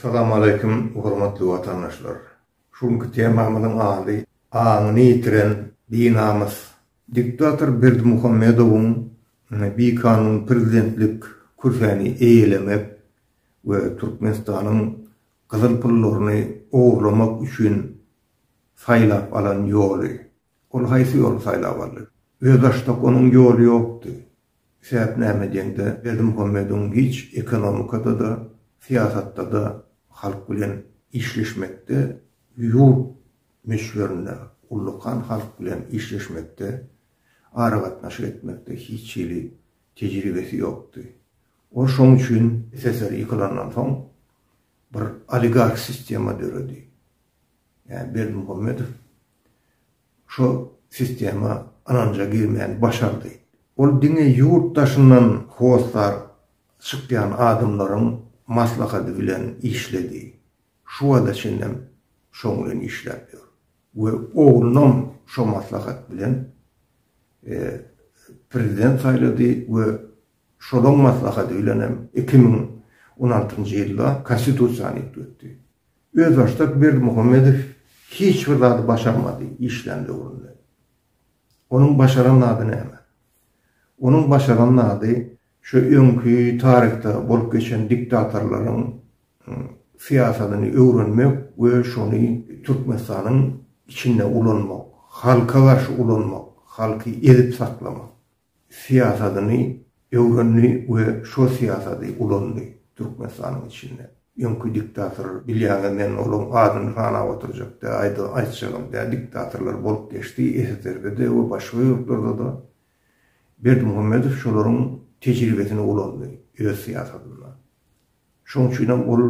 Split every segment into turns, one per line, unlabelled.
Salam aleýkum hormatly watandaşlar. Şu günki temamyzyň ady Aňyny ýitiren binamys. Diktator Berdimuhamedowyň bikanun prezidentlik kürsini eýelemek we Türkmenistanyň gyzyl pullaryny ogurlamak üçin saýlap alan ýoly. Ol haýsy ýoly saýlap aldy? Özbaşdak onuň ýoly ýokdy. Sebäp näme diýende, Berdimuhammedow giç ekonomikada-da, syýasatda-da halk bilen işleşmekde, ýurt möçberinde ullakan halk bilen işleşmekde, aragatnaşyk etmekde hiç hili tejribesi ýokdy. Ol şoň üçin SSR ýykylandan soň bir oligarh sistema döredi. Ýa Berdimuhammedow şu sistema ynanja girmäni başardy. Ol diňe ýurt daşyndan hossar çykýan adamlaryň maslahady bilen işledi. Şu wagta çenlem şoň bilen işläp ýör we oglunam şo maslahat bilen prezident saýlady we şolaň maslahady bilenem iki müň on altynjy ýylda Konstitusiýany üýtgetdi. Özbaşdak Berdimuhamedow hiç bir zady başarmady işlän döwründe. Onuň başaran zady näme? Onuň başaran zady şu öňki taryhda bolup geçen diktatorlaryň syýasatyny öwrenmek we şony Türkmenistanyň içinde ulanmak, halka garşy ulanmak, halky ezip saklamak. syýasatyny öwrendi we şo syýasaty ulandy Türkmenistanyň içinde. Öňki diktator, bilýäňiz men olaň adyny sanap oturjak däl, aýda aýtjagam däl, diktatorlar bolup geçdi, SSRB-de we başga ýurtlarda-da. Berdimuhamedow şolaryň tejribesini ulandy öz syýasatynda. Şoň üçinem ol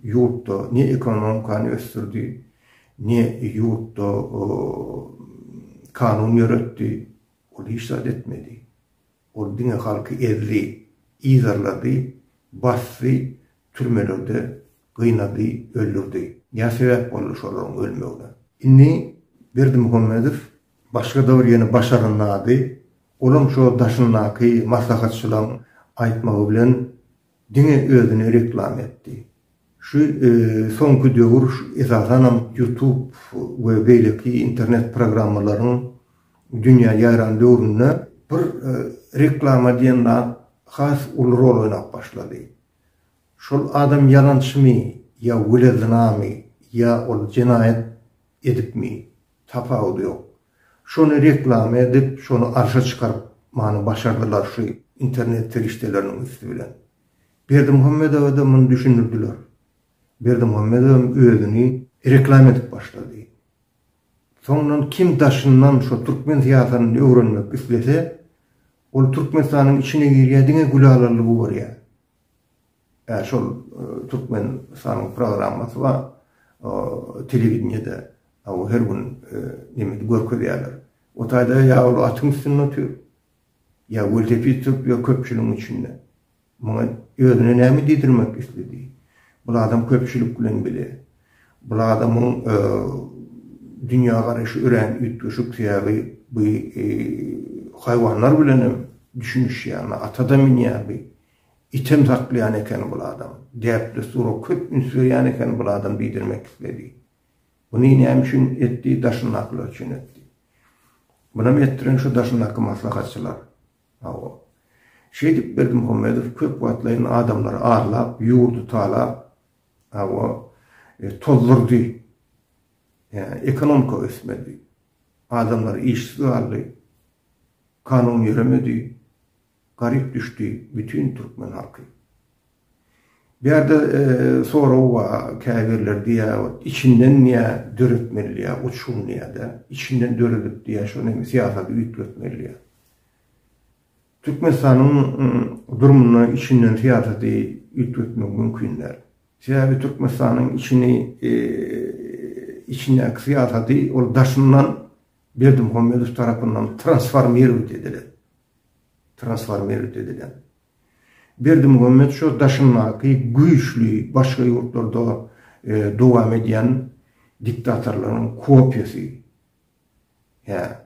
ýurtda ne ekonomikany ösdürdi, ne ýurtda kanun ýöretdi. Ol hiç zat etmedi. Ol diňe halky ezdi, yzarlady, basdy, türmelerde gynady, öldürdi. Nä sebäp boldy şolaryň ölmegine? Indi Berdimuhamedow başga-da bir ýene Başaryň zady, olam şo daşyndaky maslahatçylaryň aýtmagy bilen Diňe özüne reklama etdi. Şu soňky döwür esasanam YouTube we beýleki internet programmalaryň dünýä ýaýran döwründe bir reklama diýen zat has uly rol oýnap başlady. Şol adam ýalançymy ýa wele zynamy ýa ol jenaýat edipmi Tapawudy ýok. Şony reklama edip, şony arşa çykaryp many başardylar şu internet serişdeleriniň üsti bilen. Berdimuhammedowa-da muny düşündirdiler. Berdimuhammedowam özüni reklama edip başlady. Soňdan kim daşyndan şu türkmen syýasatyny öwrenmek islese, ol Türkmenistanyň içine girýär, diňe Gülalalygy görýär. Ä şol Türkmenistanyň programmasy bar. Telewideniýede aw her gün neme görkezýärler. O taýda ýa ol atyň üstünde otyr. Ýa welosiped sürüp ýör köpçüligiň içinde. Muňa özüne näme diýdirmek isledi? Bul adam köpçülik bilen bile. Bul adamyň dünýä garaýşy örän üýtgeşik. Sebäbi bu haýwanlar bilenem düşünişýär. Ata-da münýär bu. Item saklaýan eken bul adam. Däp-dessura köp üns berýän eken bul adam diýdirmek isledi. Buny näme üçin etdi, daşyndakylar üçin etdi. Bunam etdiren şu daşyndaky maslahatçylar. Hawa. Şeýdip Berdimuhamedow köp wagtlaýyn adamlary arlap, ýurdy talap, hawa, e, tozdurdy. Ýa, ekonomika ösmedi. Adamlar işsiz galdy. Kanun ýöremedi. Garyp düşdi bütün türkmen halky. Bu ýerde sorag bar, käbirler diýýär, içinden diýýär döretmeli diýýär, uçgun diýýär-de, içinden döredip diýýär, şony hem syýasaty üýtgetmeli diýýär. Türkmenistanyň durumunda içinden syýasaty üýtgetmek mümkin däl. Sebäbi Türkmenistanyň içini, içindäki syýasaty ol daşyndan Berdimuhamedow tarapyndan transformirować edilen. transformerlik edilen. Berdimuhammet şo daşyndaky güýçli başga ýurtlarda dowam edýän diktatorlaryň kopiýasy. Hä.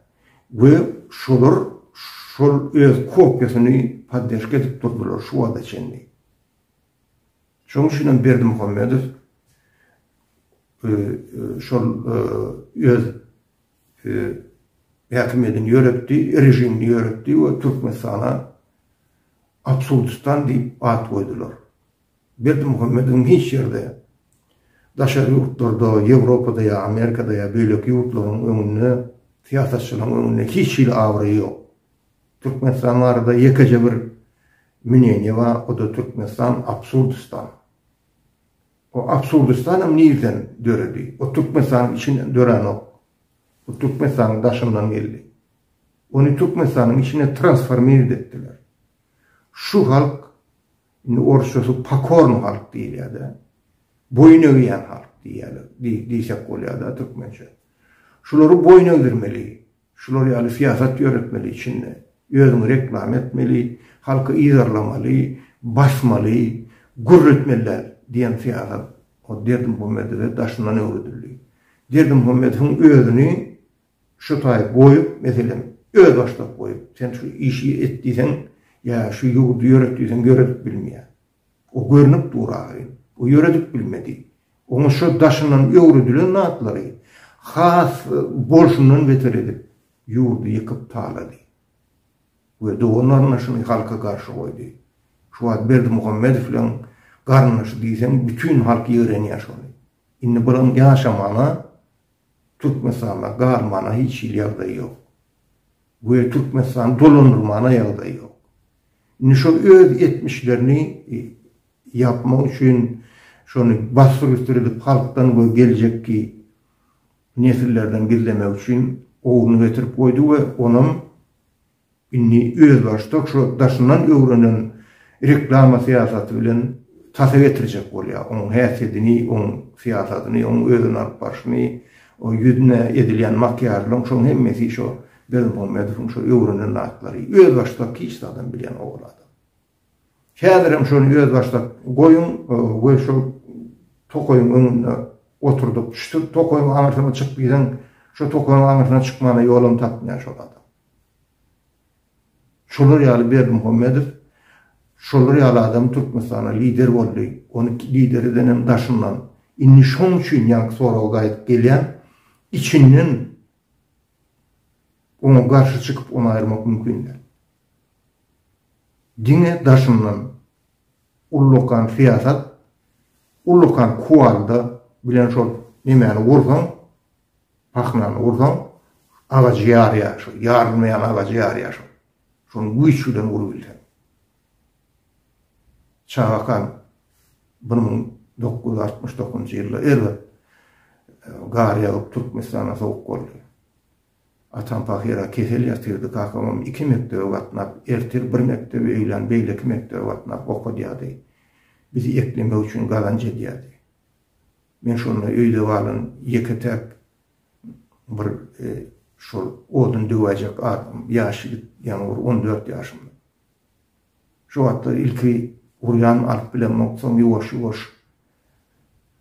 We şolar şol öz kopiýasyny podderşka edip durdylar şu wagta çenli. Şoň üçin hem Berdimuhamedow şol öz häkimiýetini ýöretdi, režimini ýöretdi we Türkmenistana Absurdistan diýip at goýdular. Berdimuhamedowyň hiç ýerde, daşary ýurtlarda, Ýewropada ýa Amerikada ýa beýleki ýurtlaryň öňünde, syýasatçylaryň öňünde hiç hili abraýy ýok. Türkmenistan barada ýekeje bir mneniýe bar, o-da Türkmenistan Absurdistan. O absurdistanam nirden döredi? O Türkmenistanyň içinden döränok. O Türkmenistanyň daşyndan geldi. Ony Türkmenistanyň içine transformir etdiler. Şu halk, indi orsçasy pokorny halk diýilýär-de, boýun egýän halk diýýärler, diýsek bolýar-da türkmençe. Şulary boýun egdirmeli, Şular ýaly syýasat ýöretmeli içinde. Özüňi reklama etmeli, halky yzarlamaly, basmaly, gürletmeli däl diýen syýasat o Derdimuhammedowä daşyndan öwredildi. Derdimuhammedowyň özüni şu taýy goýup, meselem, özbaşdak goýup, sen şu işi et diýseň ýa şu ýurdy ýöret diýseň ýöredip bilmeýär. O görnüp dur ahyry. O ýöredip bilmedi. Oňa şo daşyndan öwredilen zatlary has bolşundan beter edip, ýurdy ýykyp talady. We dogan-garyndaşyny halka garşy goýdy. Şu wagt Berdimuhammedowyň garyndaşy diýseň bütin halk ýigrenýär şony. Indi bularyň ýaşamana, Türkmenistanda galmana hiç hili ýagdaýy ýok. we Türkmenistany dolandyrmana ýagdaý ýok. Indi şol öz etmişlerini ýapmak üçin şony bassyr-üstir edip halkdan we geljekki nesillerden gizlemek üçin owuny getirip goýdy we onam indi özbaşdak şu daşyndan öwrenen reklama syýasaty bilen tasa getirjek bolýar. Onuň häsiýetini, onuň syýasatyny, onuň özüni alyp barşyny O ýüzüne edilýän makiýažlaryň şoň hemmesi şo Berdimuhamedowyň şo öwrenen zatlary. Özbaşdak hiç zadam bilýän owal adam. Häzirem şony özbaşdak goýuň we şol tokaýyň öňünde oturdyp, şu tokaýyň aňyrsyna çyk diýseň, şo tokaýyň aňyrsyna çykmana ýolam tapmaýan şol adam. Şolar ýaly Berdimuhamedow şolar ýaly adam Türkmenistana lider boldy, ony lider edenem daşyndan. Indi şoň üçin ýaňky soraga gaýdyp gelýän, içinden oňa garşy çykyp ony aýyrmak mümkin däl. Diňe daşyndan ullakan syýasat, ullakan kuwalda bilen şol nemäni gursaň, Pahnany ursaň, agajy ýarýar, şol ýarylmaýan agajy ýarýar şol. Şony güýç bilen urubilseň. Çagakan bir müň dokuz ýüz altmyş dokuzynjy ýylda erbet gar ýagyp Türkmenistana sowuk boldy. Atam pahyra kesel ýatyrdy, kakamam iki mekdebe gatnap, ertir bir mekdebe, öýlän beýleki mekdebe gatnap okadýardy. Bizi eklemek üçin gazanç edýärdi. Men şonda öýde galan ýeke-täk bir şol odun döwäýjek adam, ýaş ýigit, ýaňy bir on dört ýaşymda. Şo wagtlar ilki urýan alyp bilemok, soň ýuwaş-ýuwaş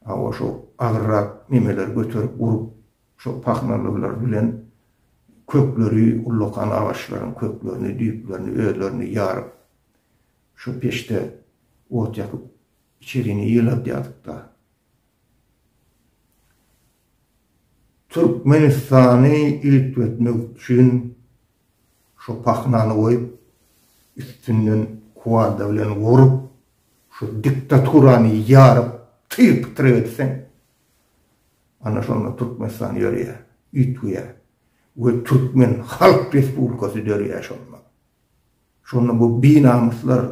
hawa şo agyrrak nemeleri göterip urup, şo pahnalylary bilen kökleri, ullakan agaçlaryň köklerini, düýplerini özlerini ýaryp, şo peçde ot ýakyp Içerini ýyladýardyk-da. Türkmenistany üýtgetmek üçin şo pahnany goýup, üstünden kuwada bilen urup, şo diktaturany ýaryp, tyr-pytyr etseň, ana şonda Türkmenistan ýörýär, üýtgeýär we türkmen halk respublikasy dörýär şonda. Şonda bu binamyslar,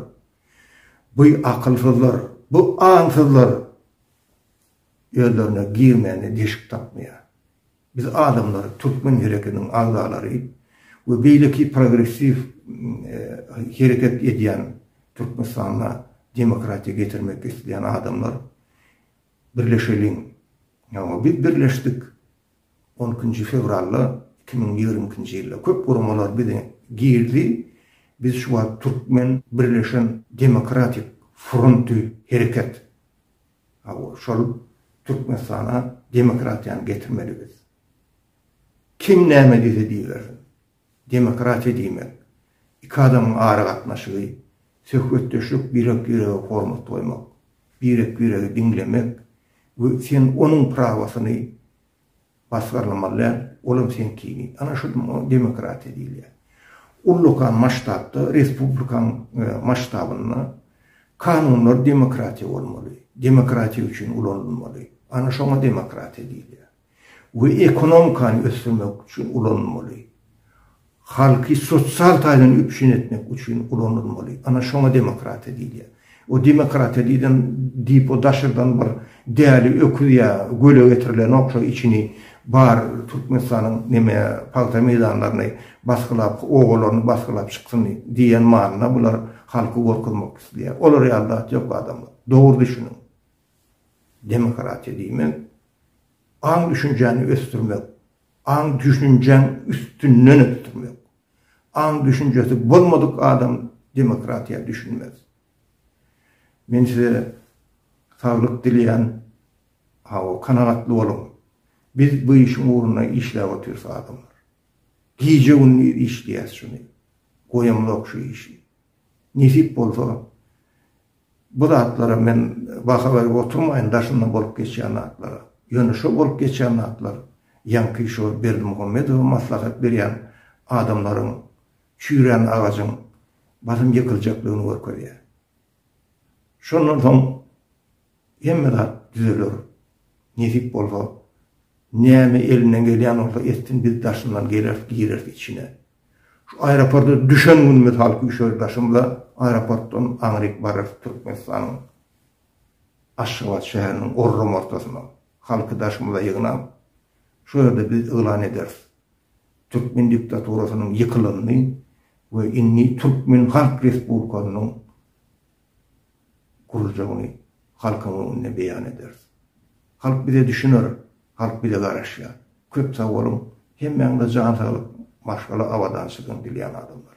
bu akylsyzlar, bu aňsyzlar özlerine girmäne deşik tapmaýar. Biz adamlar, türkmen hereketiniň agzalary we beýleki progressiw hereket edýän Türkmenistanda demokratiýa getirmek isleýän adamlar birleşeliň. Ýa biz birleşdik, On ikinji fewralda iki müň ýigrimi ikinji ýylda köp guramalar bize girdi. Biz şu wagt Türkmen birleşen demokratik fronty hereket. Hawa, şol Türkmenistana demokratiýany getirmeli biz. Kim näme diýse diýibersin. Demokratiýa diýmek, iki adamyň aragatnaşygy, söhbetdeşlik, birek-birege hormat goýmak, birek-biregi diňlemek we sen onuň prawasyny basgyrlamaly däl, olam seňkini. Ana şu demokratiýa diýilýär. Ullakan masştabda, respublikan masştabynda kanunlar demokratiýa bolmaly, demokratiýa üçin ulanylmaly. Ana şoňa demokratiýa diýilýär. we ekonomikany ösdürmek üçin ulanylmaly. Halky sosial taýdan üpjün etmek üçin ulanylmaly. Ana şoňa demokratiýa diýilýär. O demokratiýa diýden diýip o daşardan bir däli öküz ýa göle getirilenok şo içini bar Türkmenistanyň neme pagta meýdanlaryny basgylap obalaryny basgylap çyksyn diýen manyna bular halky gorkuzmak isleýär. Olar ýaly zat ýok adamlar. Dogry düşüniň. Demokratiýa diýmek, aň-düşünjäni ösdürmek, aň-düşünjäň üstünden ösdürmek. Aň-düşünjesi bolmadyk adam demokratiýa düşünmez. Men size saglyk dileýän, hawa, kanagatly boluň. Biz bu işiň ugrunda işläp otyrys adamlar. Gije-gündiz işleýäs şuny. Goýamzok şu işi. Nesip bolsa, Bu zatlara men baha berip oturmaýyn, daşyndan bolup geçýän zatlara. Ýöne şo bolup geçýän zatlar ýaňky şo Berdimuhamedowa maslahat berýän adamlaryň çüýrän agajyň basym ýykyljakdygyny görkezýär. Şondan soň hemme zat düzeler. Nesip bolsa, näme elinden gelýän bolsa etsin, biz daşyndan geleris, gireris içine. Şu aeroporta düşen gün mysal küşer daşymda aeroportdan aňryk bararys Türkmenistanyň Aşgabat şäheriniň orram ortasyna halky daşymyza ýygnap şo ýerde biz yglan ederis Türkmen diktaturasynyň ýykylanyny we indi Türkmen Halk Respublikasynyň gurjagyny halkyň öňünde beýan ederis. Halk bize düşüner, halk bize garaşýar. Köp sag boluň, hemmäňize jan saglyk, maşgala abadançylygyny dilýän adamlar.